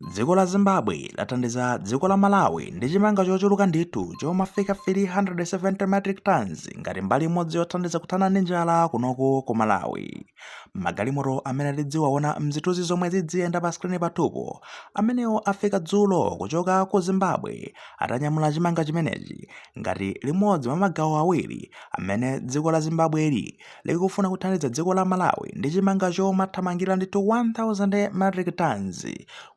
Dziko la Zimbabwe lathandiza dziko la Malawi ndi chimanga chochuluka ndithu chomafika 370 metric tons ngati mbali imodzi yothandiza kuthana ndi njala kunoku ku Malawi. Magalimoto amene tidziwaona mzithunzi zomwe zidziyenda pa skrini pathupo amenewo afika dzulo kuchoka ku Zimbabwe atanyamula chimanga chimenechi ngati limodzi mwa magawo awiri amene dziko la Zimbabweli likufuna kuthandiza dziko la Malawi ndi chimanga chomathamangira ndithu 1000 metric tons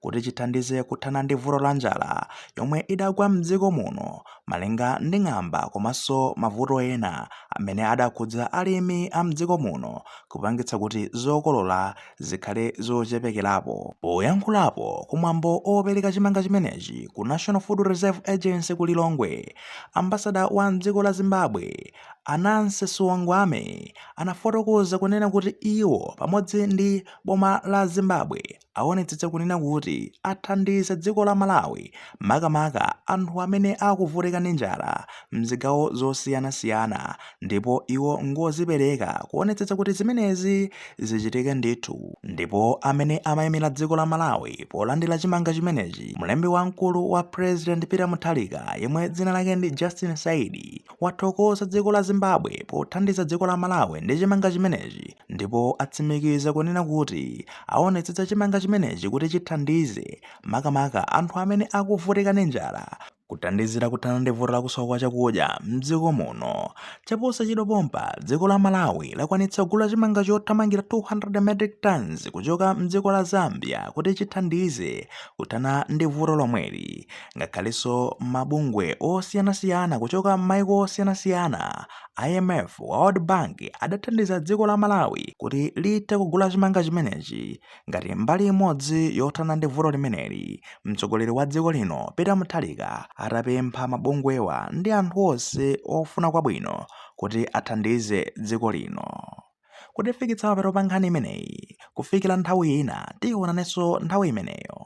kuti chithandize kuthana ndi vuto la njala yomwe idagwa mdziko muno malinga ndi ng'amba komanso mavuto ena amene adakhudza alimi a mdziko muno kupangitsa kuti zokolola zikhale zochepekerapo. Poyankhulapo kumwambo opereka chimanga chimenechi ku National Food Reserve Agency ku Lilongwe, ambassador wa mdziko la Zimbabwe, a Nancy Saungweme anafotokoza kunena kuti iwo pamodzi ndi boma la Zimbabwe awonetsetsa kunena kuti athandiza dziko la Malawi makamaka anthu amene akuvutika ndi njala mzigawo zosiyana siyana ndipo iwo ngozipereka kuonetsetsa kuti zimenezi zichitike ndithu. Ndipo amene amaimira dziko la Malawi polandira chimanga chimenechi mlembi wamkulu wa President Peter Mutharika yemwe dzina lake ndi Justin Saidi, wathokoza dziko la Zimbabwe pothandiza dziko la Malawi ndi chimanga chimenechi ndipo atsimikiza kunena kuti aonetsetsa chimanga chimenechi kuti chithandize makamaka anthu amene akuvutika ndi njala kuthandizira kuthana ndi vuto la kusowa kwa chakudya mdziko muno chaposachedwa pompa dziko la malawi lakwanitsa kugula chimanga chothamangira 200 metric tons kuchoka mdziko la zambia kuti chithandize kuthana ndi vuto lomweli ngakhalenso mabungwe osiyanasiyana kuchoka m'maiko osiyanasiyana imf world bank adathandiza dziko la malawi kuti lithe kugula chimanga chimenechi ngati mbali imodzi yothana ndi vuto limeneli mtsogoleri wa dziko lino peter mutharika atapempha mabungwewa ndi anthu onse ofuna kwabwino kuti athandize dziko lino kutifikitsa mapeto pa nkhani imeneyi kufikira nthawi ina tionanenso nthawi imeneyo